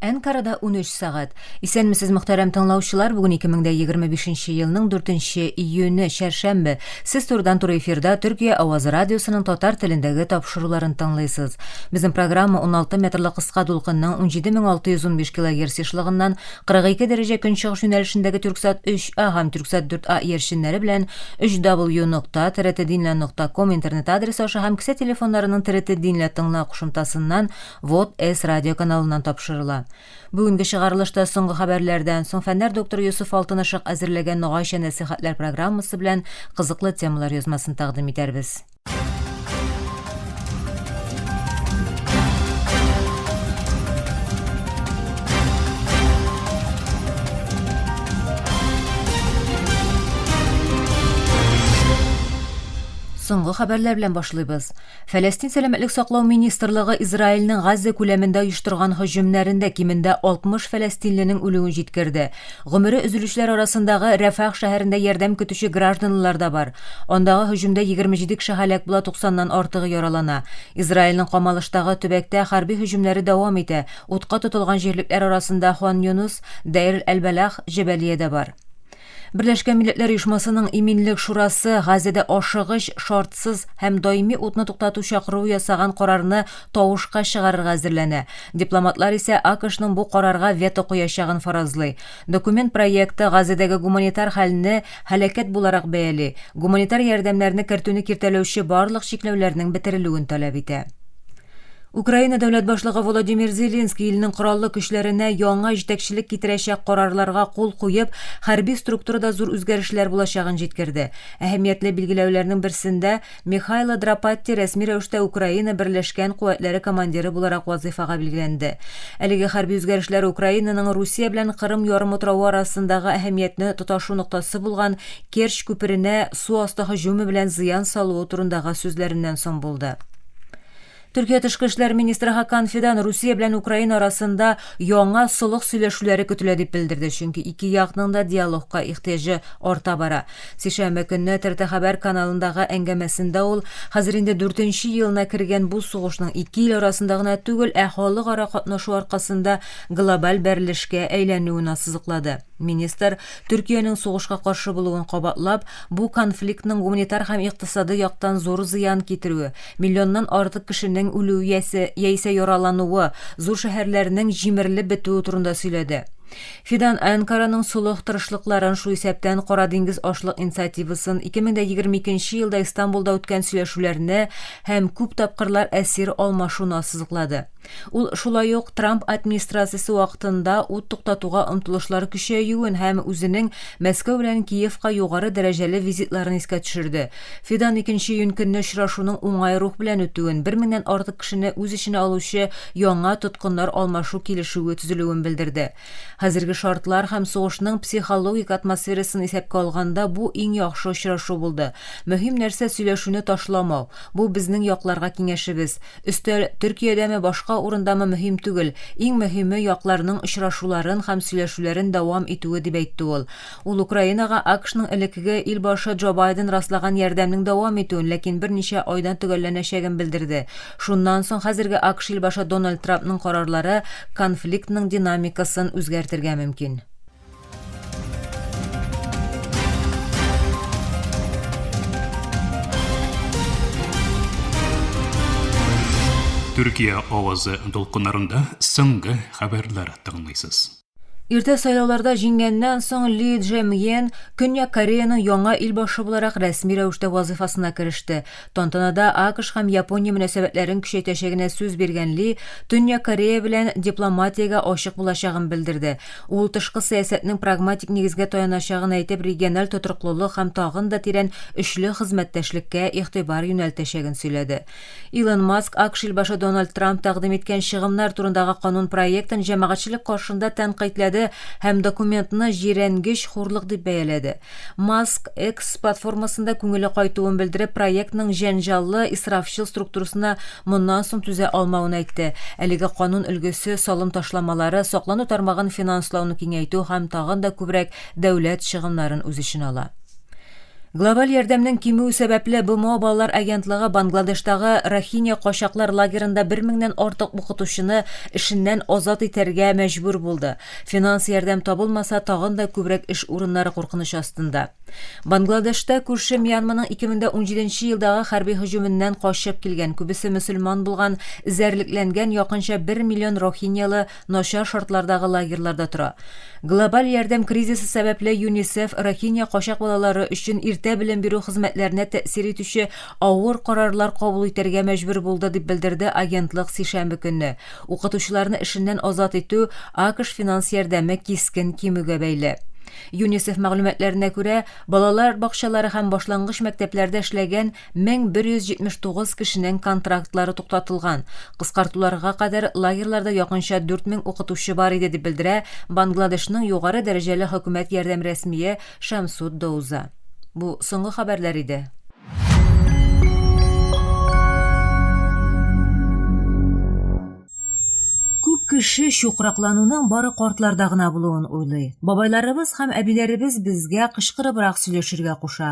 Әнкарада унөч сәгать. Исәнмесез, мөхтәрәм тыңлаучылар. Бүген 2025 елның 4 июне, чәршәмбе. Сез турыдан-туры эфирда Төркия Авазы радиосының татар телендәге тапшыруларын тыңлыйсыз. Безнең программа 16 метрлы кыска дулкынның 17615 килогерц ешлыгыннан 42 дәрәҗә көнчыгыш юнәлешендәге Төрксат 3А һәм Төрксат 4А иярченнәре белән 3W нокта TRT Динлә нокта ком интернет адресы аша һәм кесә телефоннарының TRT Динлә тыңла кушымтасыннан Вот С радиоканалыннан тапшырыла. Бүгенге чыгарылышта соңгы хәбәрләрдән соң фәннәр докторы Йосыф Алтынышык әзерләгән Ногайча нәсыйхәтләр программасы белән кызыклы темалар язмасын тәкъдим итәрбез. Соңгы хәбәрләр белән башлыйбыз. Фәләстин сәламәтлек саклау министрлыгы Израильнең Газза күләмендә оештырган һөҗүмнәрендә кимендә 60 фәләстинленең үлүен җиткерде. Гомере өзелүчеләр арасындагы Рәфах шәһәрендә ярдәм көтүче гражданлылар да бар. Андагы һөҗүмдә 27 кеше һәлак була, 90 нан артыгы яралана. Израильнең Камалыштагы төбәктә хәрби һөҗүмнәре дәвам итә, утка тотылган җирлекләр арасында Хан Йоныс, Дэйр әл-Бәлах, Җәбәлия дә бар. Берләшкән Милләтләр Оешмасының Иминлек шурасы Газәдә ашыгыч, шартсыз һәм даими утны туктату чакыруы ясаган карарны тавышка чыгарырга әзерләнә. Дипломатлар исә АКШның бу карарга вето куячагын фаразлый. Документ проекты Газәдәге гуманитар хәлне һәлакәт буларак бәяли, гуманитар ярдәмнәрне кертүне киртәләүче барлык чикләүләрнең бетерелүен таләп итә. Украина дәүләт башлыгы Володимир Зеленский илнең кораллы көчләренә яңа җитәкчелек китерәчәк карарларга кул куеп, хәрби структурада зур үзгәрешләр булачагын җиткерде. Әһәмиятле билгеләүләрнең берсендә Михайло Драпатти рәсми рәвештә Украина берләшкән куәтләре командиры буларак вазыйфага билгеләнде. Әлеге хәрби үзгәрешләр Украинаның Русия белән Кырым ярымутравы арасындагы әһәмиятне тоташу ноктасы булган Керчь күперенә су асты һөҗүме белән зыян салуы турындагы сүзләреннән соң булды. Төркия тышкы эшләр министры Хакан Фидан Русия белән Украина арасында яңа солых сөйләшүләре көтелә дип белдерде, чөнки ике якның да диалогка ихтыяҗы арта бара. Сишәмбе көнне ТРТ хәбәр каналындагы әңгәмәсендә ул, хәзер инде дүртенче елына кергән бу сугышның ике ил арасында гына түгел, ә халыкара катнашу аркасында глобаль бәрелешкә әйләнүен ассызыклады. Министр, Төркиянең сугышка каршы булуын кабатлап, бу конфликтның гуманитар һәм икътисадый яктан зур зыян китерүе, миллионнан артык кешенең үлүе яисә, яисә яралануы, зур шәһәрләрнең җимерелеп бетүе турында сөйләде. Фидан Әнкараның солых тырышлыкларын, шул исәптән Кара диңгез ашлык инициативасын, 2022 нче елда Истанбулда үткән сөйләшүләрне һәм күп тапкырлар әсир алмашуны ассызыклады. Ул шулай ук Трамп администрациясе вакытында ут туктатуга омтылышлар көчәюен һәм үзенең Мәскәү белән Киевка югары дәрәҗәле визитларын искә төшерде. Фидан икенче июнь көнне очрашуның уңай рух белән үтүен, бер меңнән артык кешене үз эченә алучы яңа тоткыннар алмашу килешүе төзелүен белдерде. Хәзерге шартлар һәм сугышның психологик атмосферасын исәпкә алганда, бу иң яхшы очрашу булды. Мөһим нәрсә, сөйләшүне ташламау. Бу безнең якларга киңәшебез. Өстәл, Төркиядәме, башка урындамы мөһим түгел. Иң мөһиме, якларның очрашуларын һәм сөйләшүләрен дәвам итүе, дип әйтте ул. Ул Украинага АКШның элеккеге ил башы Джо Байден раслаган ярдәмнең дәвам итүен, ләкин берничә айдан төгәлләнәчәген белдерде. Шуннан соң хәзерге АКШ илбашы Дональд Трампның карарлары конфликтның динамикасын үзгәртергә мөмкин. Төркия авазы дулкыннарында соңгы хәбәрләр тыңлыйсыз. Иртә сайлауларда җиңгәннән соң Ли Джемьен Көньяк Кореяның яңа илбашы буларак рәсми рәвештә вазыйфасына кереште. Тантанада АКШ һәм Япония мөнәсәбәтләрен көчәйтәчәгенә сүз биргән Ли Төньяк Корея белән дипломатиягә ачык булачагын белдерде. Ул тышкы сәясәтнең прагматик нигезгә таяначагын әйтеп, региональ тотрыклылык һәм тагын да тирән өчле хезмәттәшлеккә игътибар юнәлтәчәген сөйләде. Илон Маск АКШ илбашы Дональд Трамп тәкъдим иткән чыгымнар турындагы канун проектын җәмәгатьчелек каршында тәнкыйтьләде һәм документны җирәнгеч хурлык дип бәяләде. Маск X платформасында күңеле кайтуын белдереп, проектның җәнҗаллы, исрафчыл структурасына моннан соң түзә алмавын әйтте. Әлеге канун өлгесе салым ташламалары, саклану тармагын финанслауны киңәйтү һәм тагын да күбрәк дәүләт чыгымнарын үз эченә ала. Глобаль ярдәмнең кимүе сәбәпле, БМО балалар агентлыгы Бангладештагы Рохиня качаклар лагерында бер меңнән артык укытучыны эшеннән азат итәргә мәҗбүр булды. Финанс ярдәм табылмаса, тагын да күбрәк эш урыннары куркыныч астында. Бангладешта күрше Мьянманың 2017 нче елдагы хәрби һөҗүменнән качып килгән, күбесе мөселман булган, эзәрлекләнгән якынча бер миллион рохиньялы начар шартлардагы лагерьларда тора. Глобаль ярдәм кризисы сәбәпле ЮНИСЕФ Рохинья качак балалары өчен иртә белем бирү хезмәтләренә тәэсир итүче авыр карарлар кабул итәргә мәҗбүр булды, дип белдерде агентлык сишәмбе көнне. Укытучыларны эшеннән азат итү АКШ финанс ярдәме кискен кимүгә бәйле. ЮНИСЕФ мәгълүматларына күрә, балалар бакчалары һәм башлангыч мәктәпләрдә эшләгән 1179 кешенең контрактлары туктатылган. Кыскартуларга кадәр лагерьларда якынча 4000 укытучы бар иде, дип белдерә Бангладешның югары дәрәҗәле хөкүмәт ярдәм рәсмие Шамсуд Доуза. Бу соңгы хәбәрләр иде. Күп кеше чукраклануның бары картларда гына булуын уйлый. Бабайларыбыз һәм әбиләребез безгә кычкырыбрак сөйләшергә куша.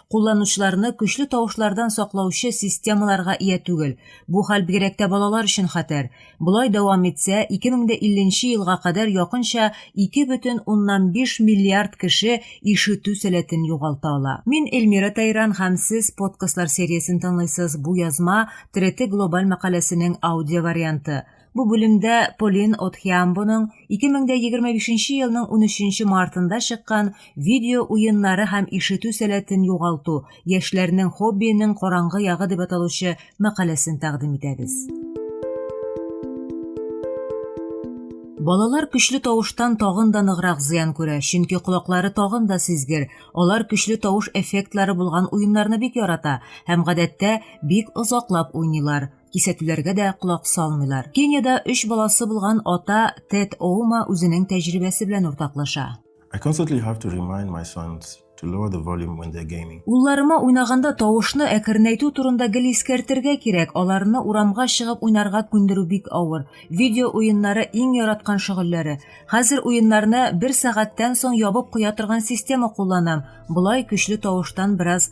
кулланучыларны көчле тавышлардан саклаучы системаларга ия түгел. Бу хәл бигрәк тә балалар өчен хәтәр. Болай дәвам итсә, 2050 елга кадәр якынча 2,5 миллиард кеше ишетү сәләтен югалта ала. Мин Эльмира Тайран һәм сез подкастлар сериясен тыңлыйсыз, бу язма Треты глобаль мәкаләсенең аудиоварианты. Бу бүлемдә Полин Отхиамбоның 2025 елның 13 мартында чыккан видео уеннары һәм ишетү сәләтен югалту, яшьләрнең хоббиенең караңгы ягы дип аталучы мәкаләсен тәкъдим итәбез. Балалар көчле тавыштан тагын да ныграк зыян күрә, чөнки колаклары тагын да сизгер. Алар көчле тавыш эффектлары булган уеннарны бик ярата һәм гадәттә бик озаклап уйныйлар. Кисәтүләргә дә колак салмыйлар. Кениядә өч баласы булган ата Тед Оума үзенең тәҗрибәсе белән уртаклаша. I constantly have to remind my sons to lower the volume when they're gaming. Улларыма уйнаганда тавышны әкренәйтү турында гел искәртергә кирәк. Аларны урамга чыгып уйнарга күндерү бик авыр. Видео уеннары иң яраткан шөгыльләре. Хәзер уеннарны бер сәгатьтән соң ябып куя торган система кулланам. Болай көчле тавыштан бераз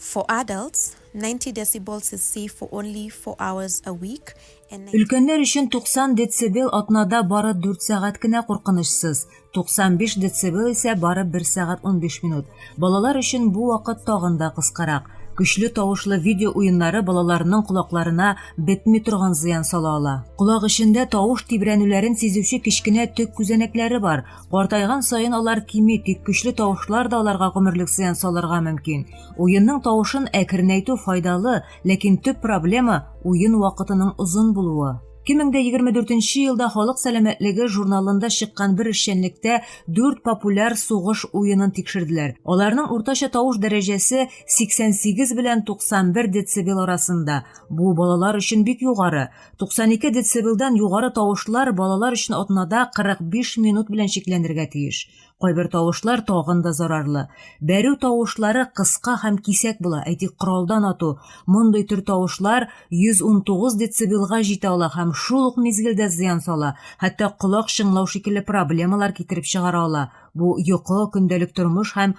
For adults, 90 decibels is safe for only four hours a week and 90. Өлкәннәр өчен 90 децибел атнада бары дүрт сәгать кенә куркынычсыз, 95 децибел исә бары бер сәгать унбиш минут. Балалар өчен бу вакыт тагын да кыскарак. Көчле тавышлы видео уеннары балаларның колакларына бетми торган зыян сала ала. Колак эчендә тавыш тибрәнүләрен сизүче кечкенә төк күзәнәкләре бар. Картайган саен алар кими, тик көчле тавышлар да аларга гомерлек зыян салырга мөмкин. Уенның тавышын әкренәйтү файдалы, ләкин төп проблема уен вакытының озын булуы. 2024 елда Халык сәламәтлеге журналында чыккан бер эшчәнлектә 4 популяр сугыш уенын тикшерделәр. Аларның уртача тавыш дәрәҗәсе 88 белән 91 децибел арасында. Бу балалар өчен бик югары. 92 децибелдан югары тавышлар балалар өчен атнада 45 минут белән чикләнергә тиеш. Кайбер тавышлар тагын да зарарлы. Бәрү тавышлары кыска һәм кисәк була, әйтик, коралдан ату. Мондый төр тавышлар 119 децибелга җитә ала һәм шул ук мизгелдә зыян сала, хәтта колак чыңлау шикелле проблемалар китереп чыгара ала. Бу йокы, көндәлек тормыш һәм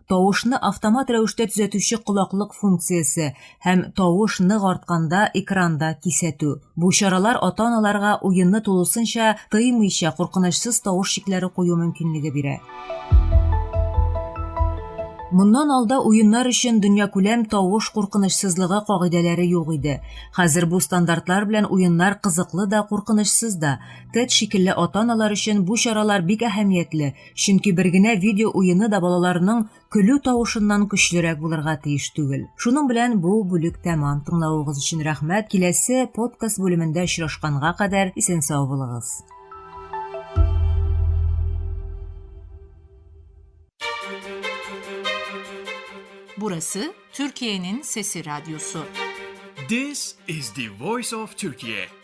тавышны автомат рәвештә төзәтүче колаклык функциясе һәм тавыш нык артканда экранда кисәтү. Бу чаралар ата-аналарга уенны тулысынча тыймыйча куркынычсыз тавыш чикләре кую мөмкинлеге бирә. Моннан алда уеннар өчен дөньякүләм тавыш куркынычсызлыгы кагыйдәләре юк иде. Хәзер бу стандартлар белән уеннар кызыклы да, куркынычсыз да. Тед шикелле ата-аналар өчен бу чаралар бик әһәмиятле, Чөнки бер генә видео уены да балаларның көлү тавышыннан көчлерәк булырга тиеш түгел. Шуның белән бу бүлек тәмам. Тыңлавыгыз өчен рәхмәт. Киләсе подкаст бүлемендә очрашканга кадәр исән сау булыгыз. Burası Türkiye'nin sesi radyosu. This is the voice of Turkey.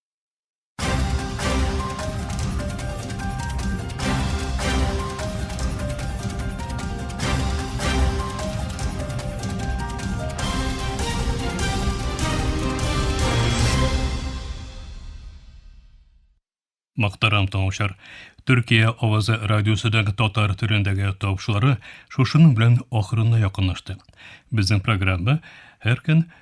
Мактарам таңшар. Төркия авазы радиосыдан татар төрендәге тавышлары шушының белән ахырына якынлашты. Безнең программа һәр көн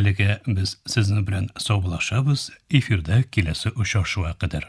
Әлегә без сезнең белән саубулашабыз, эфирда киләсе очрашуга кадәр.